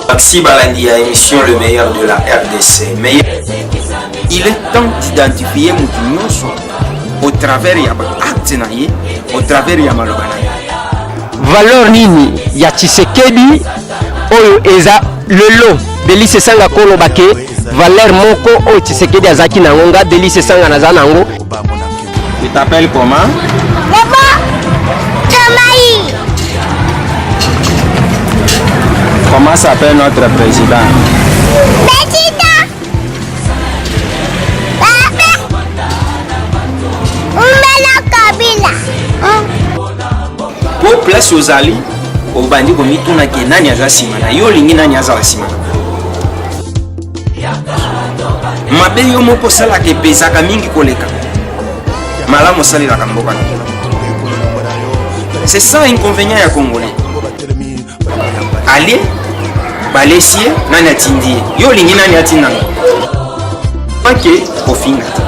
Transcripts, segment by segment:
Merci Balandi à émission Le meilleur de la RDC. Mais il est temps d'identifier Moutinhoso au travers ya acte na ye, au travers ya maloba na ye. Valeur nini ya Tshisekedi oyo eza lelo Delice Sanga koloba ke valeur moko oyo Tshisekedi azaki nango nga Delice Sanga naza nango Tu t'appelles comment? Maman, Tamaï. Comment s'appelle notre président? Président. Papa. Umela Kabila. Po place ozali obandi komituna ke nani aza nsima na yo olingi nani azala nsima na mabe yo moko osalaka epesaka mingi koleka malamu osalelaka mboka na bino c'est ça inconvénient ya congolais ale balesi ye nani atindi ye yo olingi nani atindanga ake kofinga te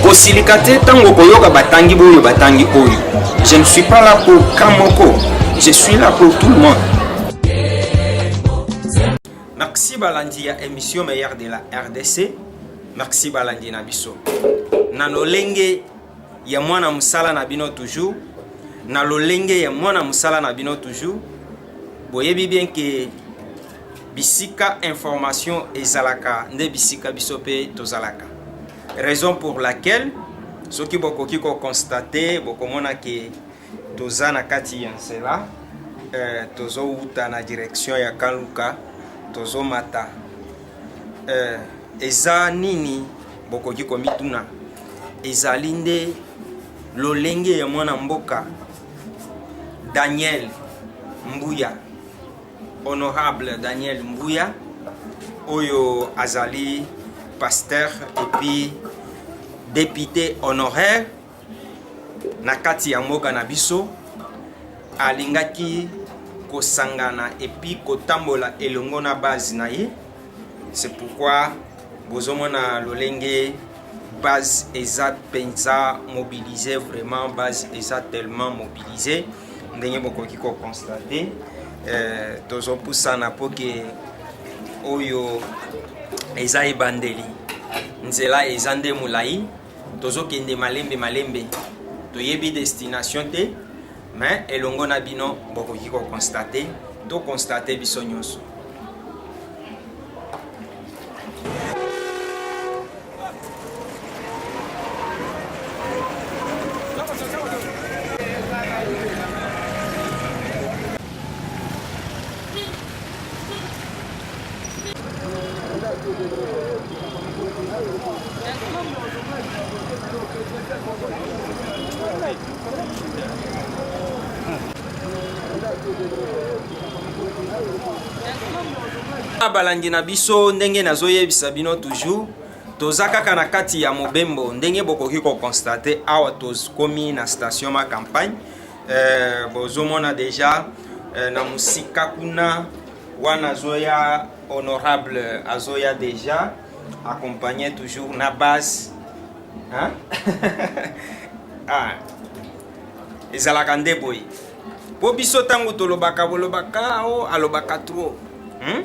kosilika te ntango koyoka batangi boyo batangi oyo je ne suis pas là pour ka moko je suis là pour tout le monde Merci balandi ya émission meilleur de la RDC. Merci balandi na biso. Na lolenge ya mwana musala na bino toujours. Na lolenge ya mwana musala na bino toujours. Boyebi bien que bisika information ezalaka nde bisika biso pe tozalaka. Raison pour laquelle soki bokoki ko constater bokomona que toza na kati ya nzela eh, tozowuta na direction ya kaluka tozomata eh, eza nini bokoki komituna ezali nde lolenge ya mwana mboka daniel mbuya honorable daniel mbuya oyo azali pasteur epuis député honoraire na kati ya mboka na biso alingaki kosangana epi kotambola elongo na base na ye c'est pourquoi bozomona lolenge base eza mpenza mobilise vraiment base eza tellement mobilise ndenge bokoki kokonstate euh, tozopusana mpo ke oyo eza ebandeli nzela eza nde molai tozokende malembe malembe toyebi destination te mais elongo na bino bokoki kokonstate tokonstate biso nyonso na balandi na biso ndenge nazoyebisa bino toujours toza kaka na kati ya mobembo ndenge bokoki kokonstate awa tokomi na station ma campagne eh, bozomona deja eh, na mosika kuna wana azoya honorable azoya deja accompagné toujours na base hein? ah. ezalaka nde boye mpo biso ntango tolobaka bolobaka o oh, alobaka trop hmm?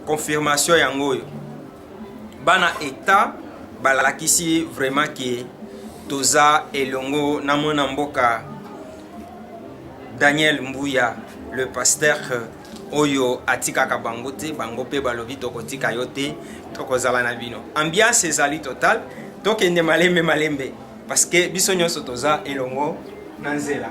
confirmation yango oyo Bana Etat balakisi vraiment ke toza elongo na mwana mboka Daniel Mbuya le pasteur oyo atikaka bango te bango mpe balobi tokotika yo te tokozala na bino ambiance ezali total tokende malembe malembe Parce que biso nyonso toza elongo na nzela.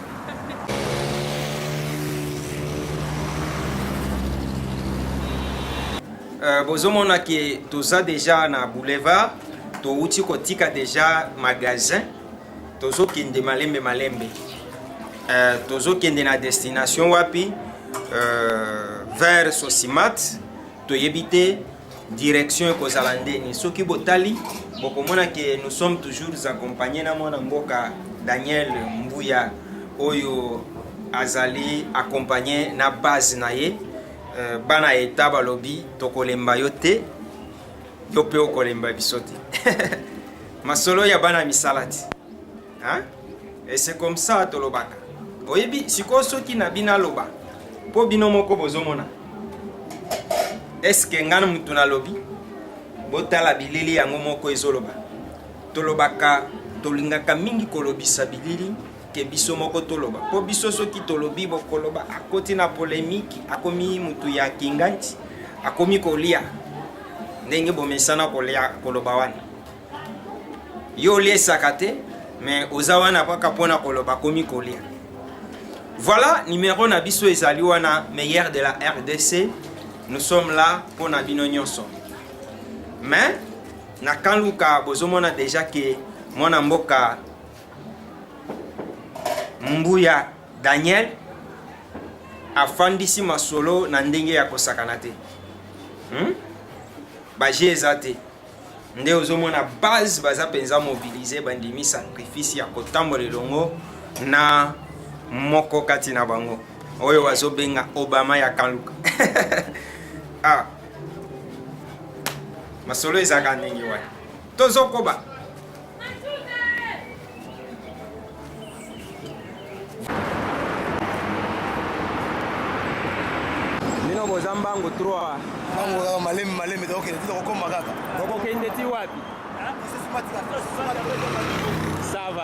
Euh, bozomona ke toza deja na boulevard touti kotika deja magasin tozokende malembe malembe euh, tozokende na destination wapi euh, vers sosimat toyebi te direction ekozala ndeni soki botali bokomona ke nous sommes toujours accompagne na mwana mboka daniel mbuya oyo azali accompagne na base na ye euh, bana eta balobi tokolemba yo te yo mpe okolemba biso te masolo ya bana misala te hein et c'est comme ça tolobaka oyebi sikoyo soki na bino aloba mpo bino moko bozomona eske ngai motu nalobi botala bilili yango moko ezoloba tolobaka tolingaka mingi kolobisa bilili ke biso moko toloba mpo biso soki tolobi bokoloba akoti na polemiki akomi motu ya kinganti akomi kolia ndenge bomesana kolia koloba wana yo oliesaka te mais oza wana kaka mpo na koloba komi kolia voilà numero na biso ezali wana meilleur de la rdc nous sommes là mpo na bino nyonso mais na kanluka bozomona deja ke mwana mboka mbuya daniel afandisi masolo na ndenge ya kosakana te hmm? baje eza te nde ozomona base baza mpenza mobilize bandimi sacrifice ya kotambola elongo na moko kati na bango oyo bazobenga obama ya kaluka ah. masolo ezalaka ndenge wana tozokoba bino boza mbangu 3 mbangu kaka malemi malemi tokokende ti tokokoma kaka tokokende ti wapi sava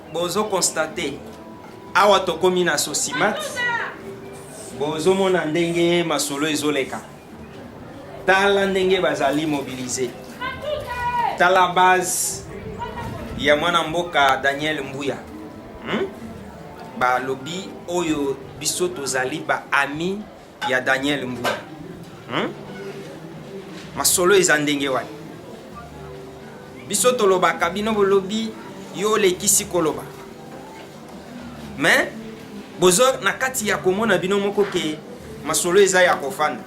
Bozo constate awa tokomi na sosimat bozomona ndenge masolo ezoleka tala ndenge bazali mobilize tala base ya mwana mboka daniel mbuya hmm? balobi oyo biso tozali baami ya Daniel Mbula hmm? masolo eza ndenge wana biso tolobaka bino bolobi yo olekisi koloba mais bozo na kati ya komona bino moko ke masolo eza ya kofanda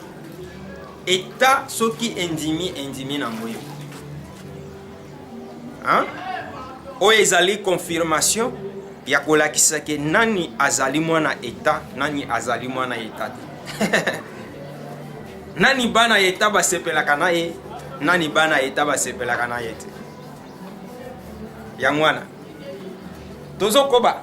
eta soki endimi endimi na ngoyo Hein? Oyo ezali confirmation ya kolakisa ke nani azali mwana eta nani azali mwana eta te nani bana eta basepelaka na ye nani bana eta basepelaka na ye te yango wana tozokoba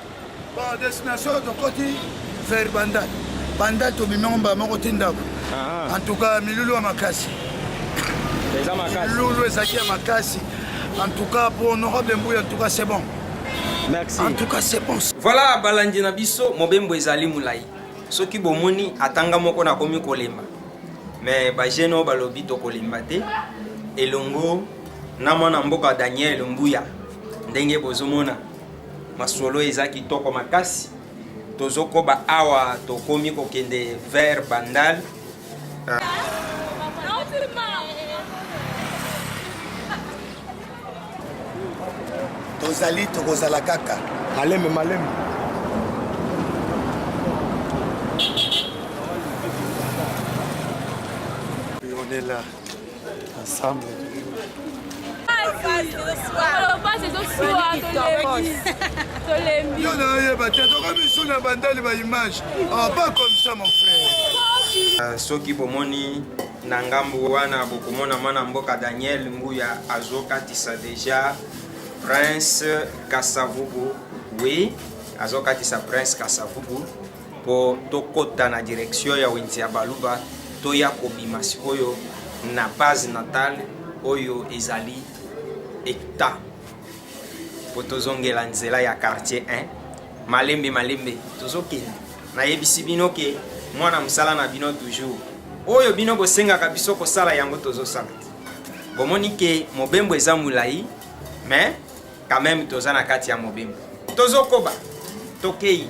Bon, destination tokoti vers Bandal. Bandal tobimi yango mbala moko ti ndako. Ah, ah. En tout cas, milulu ya makasi. Eza makasi. Milulu ezalaki ya makasi. En tout cas, pour honorable Mbuya, en tout cas, c'est bon. Merci. En tout cas, c'est bon. Voilà, balandi na biso, mobembo ezali mulai. Soki bomoni atanga moko na komi kolemba. Mais ba jeune oyo balobi tokolemba te. Elongo na mwana mboka Daniel Mbuya ndenge bozomona Masolo eza kitoko makasi. Tozokoba awa tokomi kokende vers Bandal. Tozali tokozala kaka malembe malembe. Ensemble. tolembi yo nayoyeba te tokomi misu na bandali ba image ah, pas comme ça mon frère ah, soki bomoni na ngambo wana bokomona mwana mboka daniel nguya azokatisa deja prince kasavubu oui azokatisa prince kasavubu mpo tokɔta na direction ya wenze ya baluba toya kobima sikoyo na base natale oyo ezali eta mpo tozongela nzela ya quartier 1 malembe malembe tozokende nayebisi bino ke mwana mosala na bino toujours oyo bino bosengaka biso kosala yango tozosala bomoni ke mobembo eza molai mais quand même toza na kati ya mobembo tozokoba tokei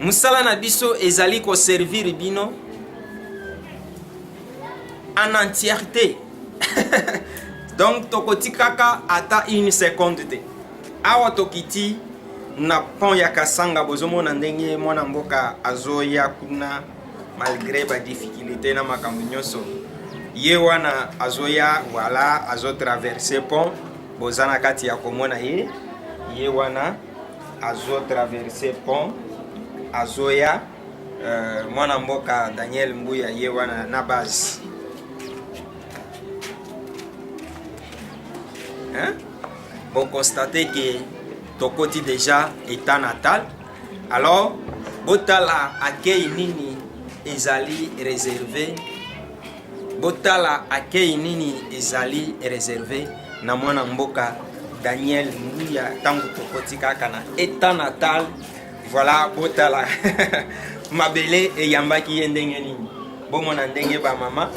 mosala na biso ezali koservire bino en entièreté donc tokotikaka ata une seconde te awa tokiti na pont ya kasanga bozomona ndenge mwana mboka azoya kuna malgré badifficulté na makambo nyonso ye wana azoya wala azotraverse pont boza na kati ya komona ye ye wana azo traverse pont azoya euh, mwana mboka daniel mbuya ye wana na base hein? bokonstate ke tokoti deja état natal alors botala akei nini ezali réservé Botala akei nini ezali reserve na mwana mboka Daniel Mbuya ntango tokoti kaka na etat natal voilà botala mabele eyambaki ye ndenge nini bomona ndenge bamama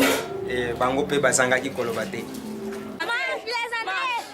eh, bango mpe bazangaki koloba te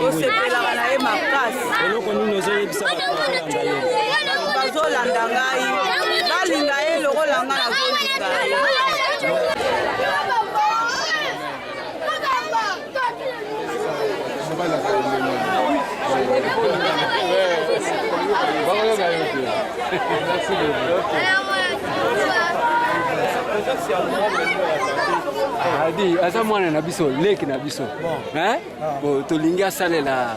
kosepelaka na ye makasi eloko nini ozoyebisa bazolanda ngai balinga ye lokola ngai nazolinga ye adi aza mwana na biso leki na biso tolingi asalela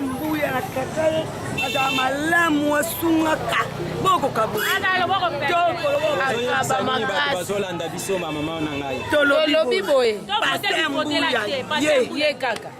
mbuya na katale azala malamu asungaka bokokabazolanda biso bamama na ngai tolobi boye ye kaka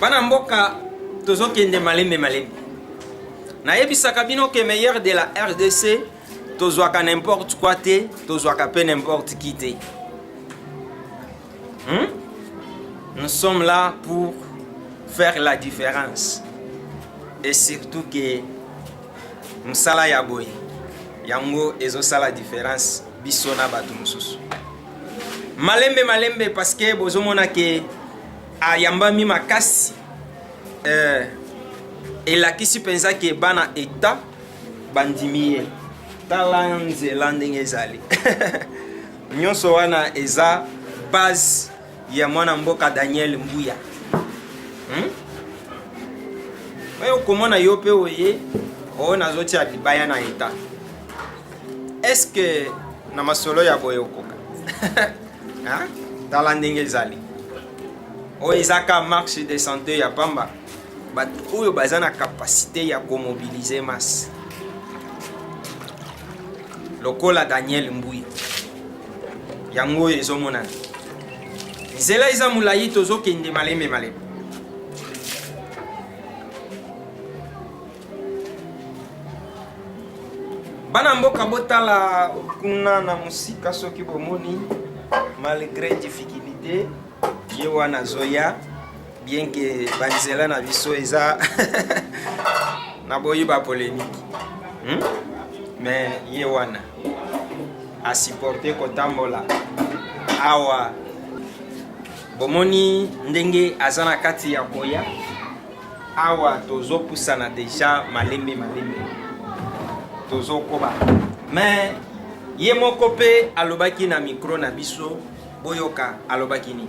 bana mboka tozokende malembe malembe nayebisaka bino ke meilleur de la rdc tozwaka n'importe quoi te tozwaka mpe n'importe qui te Hmm? Nous sommes là pour faire la différence. Et surtout que mosala ya boye yango ezosala différence biso na bato mosusu malembe malembe parce que bozomona ke ayambami makasi euh, elakisi mpenza ke bana eta bandimi ye tala nzela ndenge ezali Nyonso wana eza base ya mwana mboka Daniel Mbuya. Hmm? Oyo komona yo pe oye oyo nazotia libaya na eta. Est-ce que na masolo ya boye okoka? Hein? Tala ndenge ezali. Oyo eza ka marche de santé ya pamba. bato oyo baza na kapasite ya komobilize masse lokola daniel mbuya yango oyo ezomonana nzela eza molai tozokende malembe malembe bana mboka botala kuna na mosika soki bomoni malgre difficulté ye wana azoya bien ke banzela na biso eza na boyi ba polemique hmm? mais ye wana asupporte kotambola awa bomoni ndenge aza na kati ya koya awa tozopusana deja malembe malembe tozokoba mais ye moko mpe alobaki na mikro na biso boyoka alobaki nini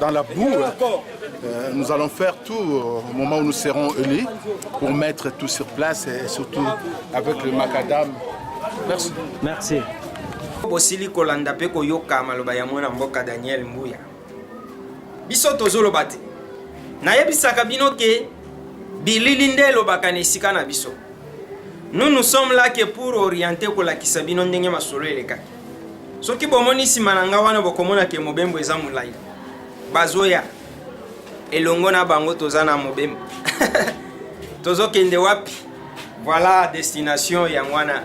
dans la boue. Euh, nous allons faire tout euh, au moment où nous serons élus pour mettre tout sur place et surtout avec le macadam. Merci. Merci. bosili kolanda mpe koyoka maloba ya mwana mboka daniel mbuya biso tozoloba te nayebisaka bino ke bilili nde elobaka na esika na biso nous nous sommes là que pour orienter kolakisa bino ndenge masolo elekaki soki bomoni nsima na ngai wana bokomona ke mobembo eza molai bazoya elongo na bango toza na mobembo tozokende wapi voilà destination yango wana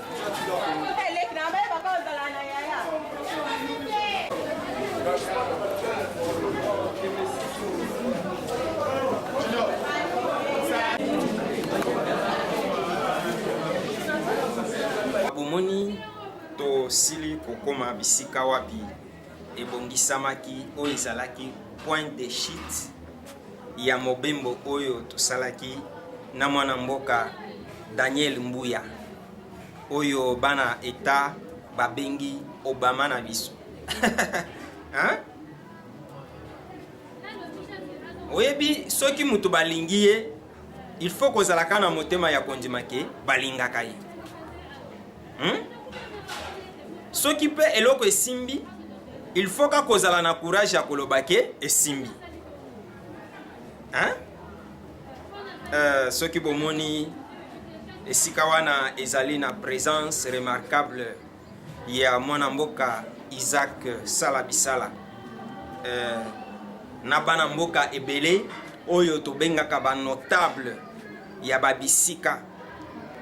bomoni tosili kokoma bisika wapi ebongisamaki oyo ezalaki point de chute ya mobembo oyo tosalaki na mwana mboka Daniel Mbuya oyo bana eta babengi Obama na biso hein? oyebi soki moto balingi ye il faut kozalaka na motema ya kondima ke balingaka ye hmm? soki mpe eloko esimbi il faut ka kozala na courage ya koloba ke esimbi hein? Euh, soki bomoni esika wana ezali na présence remarquable ya mwana mboka Isaac Sala Bisala eh, na bana mboka ebele oyo tobengaka ba notable ya babisika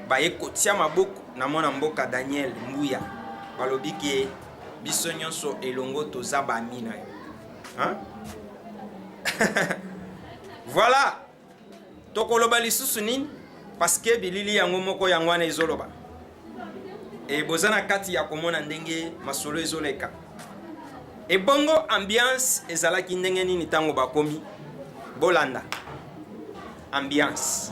baye kotia maboko na mwana mboka Daniel Mbuya balobi ke biso nyonso elongo toza bami na yo voilà tokoloba lisusu nini paske bilili yango moko yango wana ezoloba e boza na kati ya komona ndenge masolo ezoleka ebongo ambiance ezalaki ndenge nini ntango bakomi bolanda ambiance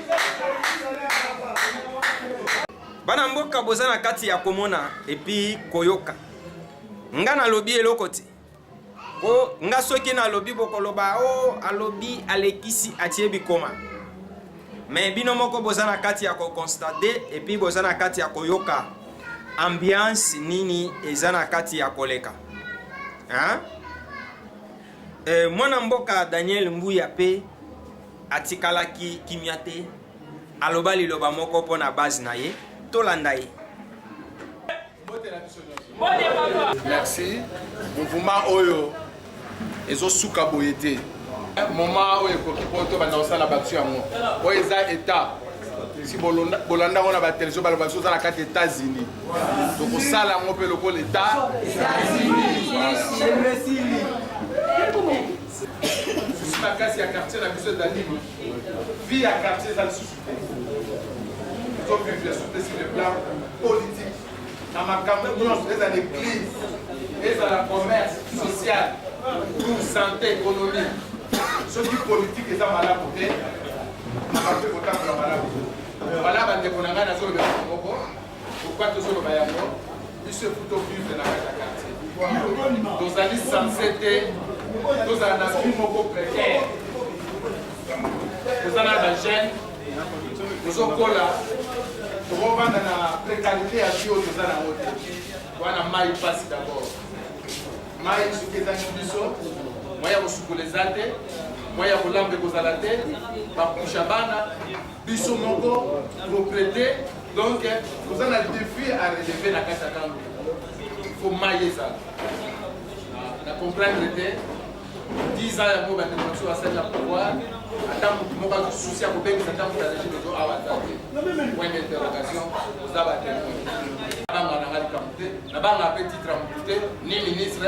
bana mboka boza na kati ya komona epi koyoka nga nalobi eloko te po nga soki nalobi bokoloba o oh, alobi alekisi atie bikoma me bino moko boza na kati ya kokonstate epi boza na kati ya koyoka ambiance nini eza na kati ya koleka hein? e, mwana mboka daniel mbuya mpe Atikalaki kimia te, aloba liloba moko mpo na base na ye. Tolanda ye. Merci. Mouvement oyo ezosuka boye te. Moma oyo ekoki mpo tobanda kosala batu yango. Oyo eza etat si bolanda yango na batelevizio baloba biso oza na kati etats-unis tokosala yango mpe lokola etat susi makasi ya quartier na biso ezali vie ya quartier eza lisusu te tozovivre sur le plan politique na makambo nyonso ezala église ezala commerce social ou santé économie soki politike eza malamu te makambo ekotambola malamu te wana bandeko na ngai nazolobela moko Pourquoi tozo loba yango? Biso efu to vivre na kati ya quartier. Tozali sense te tozala na vie moko précaire. Toza na ba jeunes tozokola tokovanda na précarité ya vie oyo toza na yango te. Wana mai mpasi d'abord. Mai soki ezangi biso moyen ya kosukola eza te, moyen ya kolamba ekozala te, bakusha bana biso moko propriété donc toza na défi à relever na kati ya ntango fo mai ezala na comprendre te 10 ans yango bandeko na biso basali na pouvoir ata motu moko azosousi ya kobengisa ntango ya régime ezo awa aza te point d'interrogation oza batemoi nabanga nanga likambo te nabanga mpe titre ya motu te ni ministre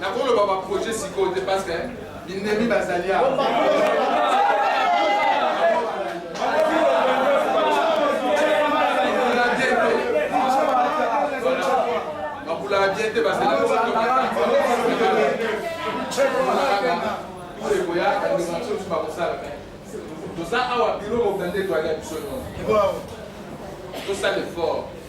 Nakoloba ba projet sikoyo te parce que binemi bazali awa. bakulaka bien te basekoya kandimatiosu bakosala me toza awa biro mobanda etoyaka biso nyonso tosala effort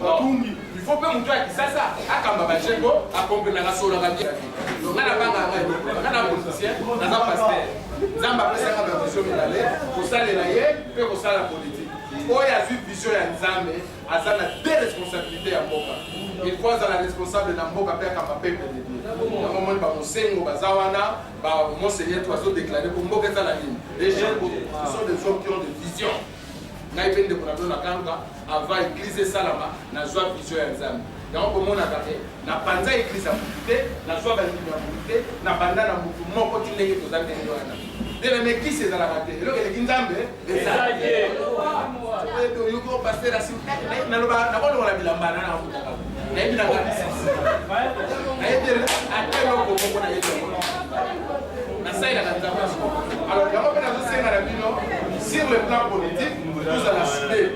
Bakumbi. Il faut pe mutu ya kisasa akamba ba cheko akomprena na solo na bia. Donc na banga ngai donc na na politicien na na pasteur. Nzamba pesa ka ba vision milale kosalela ye pe kosala politique. Oyo azwi vision ya Nzambe aza na deux responsabilités ya mboka. Il faut azala responsable na mboka pe akamba peuple de Dieu. Yango omoni ba Mosengo baza wana ba Monseigneur to azo déclarer ko mboka ezala nini. Les gens sont des hommes qui ont des visions. Ngai pe ndeko na bino na kanga Avant eglise esalama nazwa vision ya Nzambe. Yango bomonaka te napanza eglise ya motu te, nazwa bandimi ya motu te, nabanda na motu moko ti ndenge toza ndenge wana. Nde na mekisi ezalaka te, eloko eleki Nzambe ezali te. Oyebi oyoki o pasteur asimi, naloba nakolongola bilamba na nakutaka nayebi na kanisa nayebi ate eloko moko nayebi yango nasalelaka nzambe ya solo alors yango mpe nazosenga na bino sur le plan politique tozala side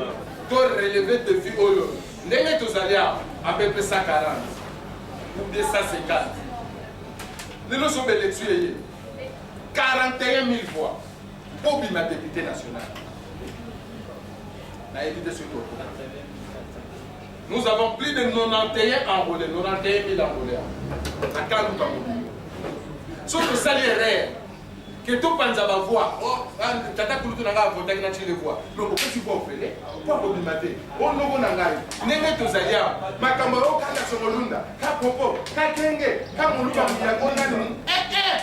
to releve defi oyo ndenge tozali awa apepe 140 ou 250 lelo sobe election eye 41 000 voix mpo obima depute national nayebi te soki Nous avons plus de 91 enrôlés, 91 000 enrôlés à Kaluka Mobimbo. Sauf que ça les rêves, que tout panza va voir. Oh, ah, tata kulutu na ngai avotaki na chile voir. Donc okoti kwa ofele, kwa kobima te. O noko na ngai, ndenge tozali awa. Makambo oyo kaka sokolunda, ka popo, ka kenge, ka moluka mbiango nani. Eh eh!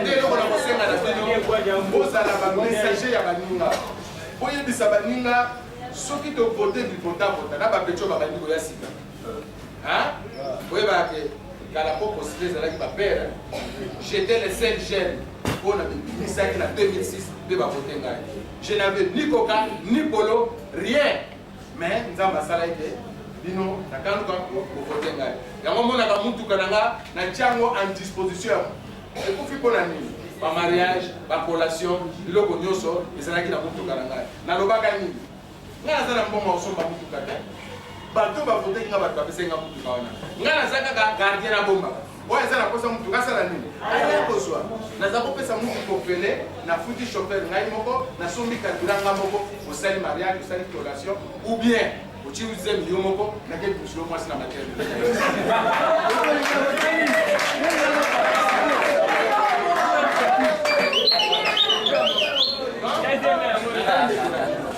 nde eloko na kosenga na bino bozala bamessager ya baninga boyebisa baninga soki tovote bipotapota na bapetio babandi koya sika boyebaka ke kala mpo kosile ezalaki bapere jete le sel jeune mpo na bibimisaki na 2006 mpe bavote ngai je n'avais ni coca ni polo rien mais nzambe asala ete bino nakaluka bovote ngai yango monaka motuka na nga na tiango en disposition ekufi mpo na nini bamariage bacollation biloko nyonso ezalaki na motuka na ngai nalobaka nini ngai naza na mbongo osomba motuka te bato bavoteki nga bato bapesaki nga motuka wana ngai naza kaka gardien na bombaka oyo aza na posa motuka asala nini aya kozwa naza kopesa mutu kopele nafuti chauffeur ngai moko nasombi kadura ngai moko osali mariage osali collation ou bien otie zemi yo moko nake bisulo mwasi na matele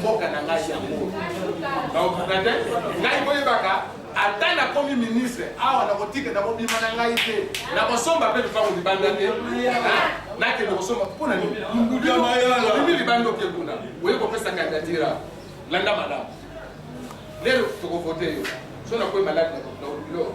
mboka na ngai yango nakokoka te ngai boyebaka ata nakomi ministre awa nakotika nakobima na ngai te nakosomba mpe lupango libanda te nakende kosomba mpo na nini obimi libanda oke kuna oye kopesa kandidatira landa malamu lelo tokovote yo so nakoyi maladi na bilo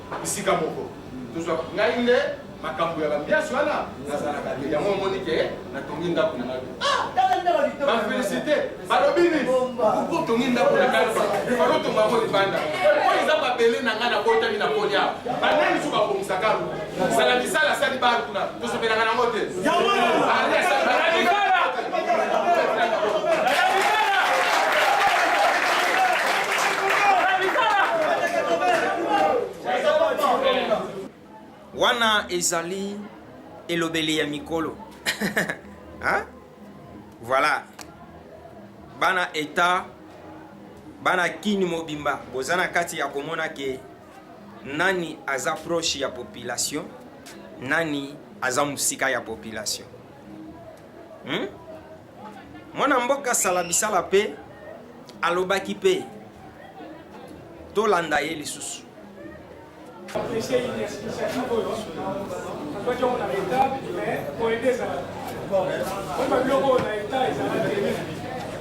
bisika moko tozwa ngai nde makambo ya bambiasi wana nazalaka te yango omoni ke natongi ndako na ngai bafelisite balobi nini otongi ndako na ngai falotonga yango libanda oyo eza babele na ngai nabotami na kolia banani so babongisaka sala misala asali bana kuna tosepelaka nango te wana ezali elobeli ya mikolo hein? voilà bana eta bana kini mobimba boza na kati ya komona ke Nani aza proche ya population? Nani aza musika ya population? Hmm? Mwana mboka sala bisala pe alobaki pe tolanda ye lisusu. Apprécier une explication oyo akwaki yango na leta mais koyende ezala oyo babiloko oyo na leta ezalaki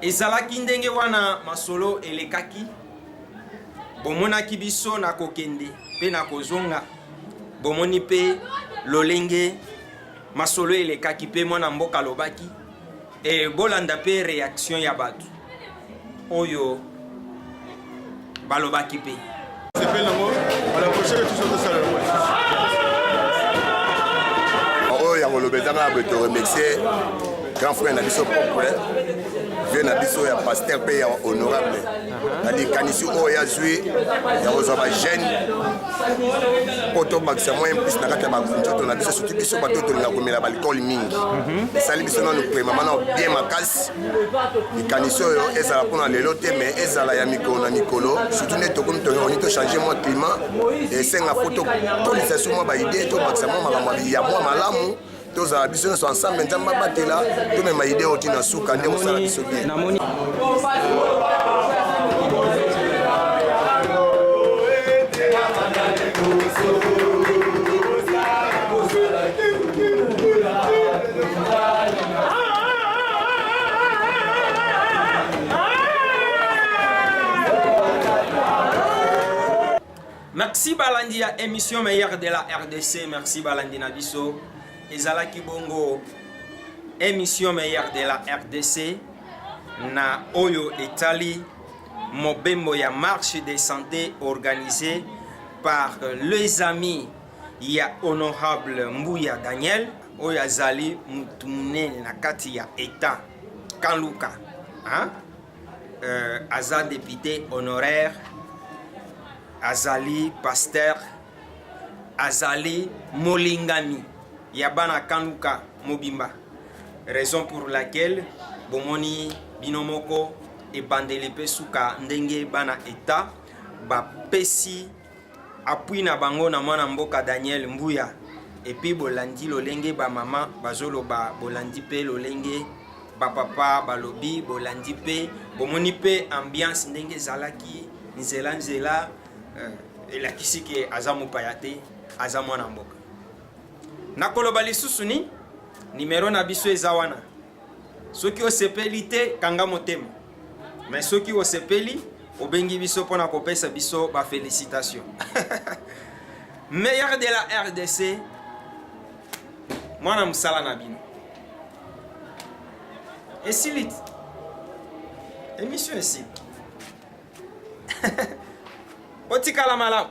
ezalaki ndenge wana masolo elekaki bomonaki biso na kokende mpe na kozonga bomoni mpe lolenge masolo elekaki mpe mwana mboka alobaki e, bolanda mpe reaction ya bato oyo balobaki mpe sepeli nango bala prochaine toujours tosala yango oyo yango loba ezanga na boye toremercie grand frère na biso propre vie na biso ya paster mpe ya honorable na likanisi oyo ya zwi ya kozwa bajeune mpo tobakisa moyen plus na kati ya banzoto na biso soki biso bato tolinga komela baalcool mingi esali biso nano premama nao bien makasi likanisi oyo ezala mpona lelo te mais ezala ya mikolo na mikolo surtout nde tokomi toyoni tochange mwa climat esenga mpo tokolisa so mwa baide tobakisa mwa makambo ya mwa malamu tozala biso nyonso ensemble nzambe abatela tomema ide oyo ntina suka nde kosala biso bien merci balandi ya émission meilleur de la rdc merci balandi na biso ezalaki bongo émission meilleur de la rdc na oyo etali mobembo ya marche de santé organisé par les amis ya honorable Mbuya Daniel oyo azali motu monene na kati ya etat kanluka hein? Euh, aza député honoraire azali pasteur azali molingami ya bana kanluka mobimba raison pour laquelle bomoni bino moko ebandeli mpe suka ndenge bana etat bapesi Appui na bango na mwana mboka Daniel Mbuya epuis bolandi lolenge ba mama bazoloba bolandi pe lolenge ba papa balobi bolandi pe bomoni pe ambiance ndenge ezalaki nzela nzela euh, elakisi ke aza mopaya te aza mwana mboka nakoloba lisusu ni nimero na biso eza wana soki osepeli te kanga motema mais soki osepeli obengi biso mpona kopesa biso ba félicitation meilleur de la rdc mwana mosala na bino esili emission esili otikala malamu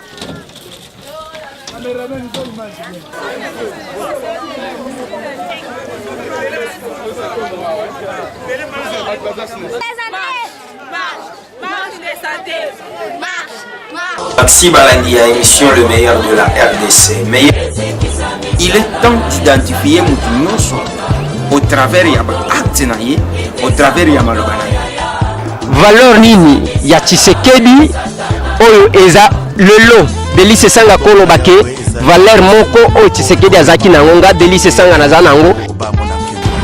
Merci Balandi à émission Le meilleur de la RDC. Mais il est temps d'identifier Moutinhoso au travers ya baakte na ye au travers ya maloba na ye valeur nini ya tshisekedi oyo eza lelo delise esanga koloba ke valeur moko oyo tshisekedi azalaki na yango nga delise esanga naza na yango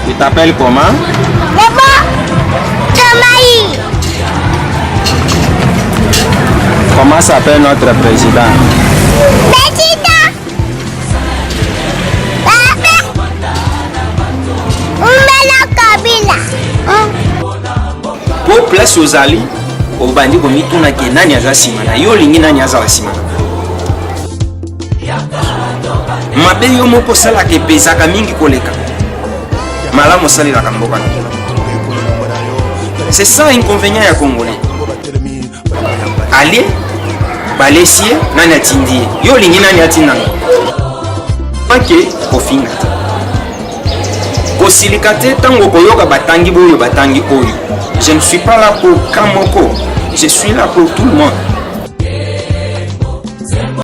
Tu t'appelles comment Papa, Jamaï. Comment s'appelle notre président Petit po place ozali obandi komituna ke nani aza nsima na yo olingi nani azala nsima na mabe yo moko osalaka epesaka mingi koleka malamu osalelaka mboka na c'est ça inconvénient ya congolais ale balesi ye nani atindi ye yo olingi nani atindanga ake kofinga te kosilika te ntango okoyoka batangi boyo batangi oyo je ne suis pas là pour ka moko je suis là pour tout le monde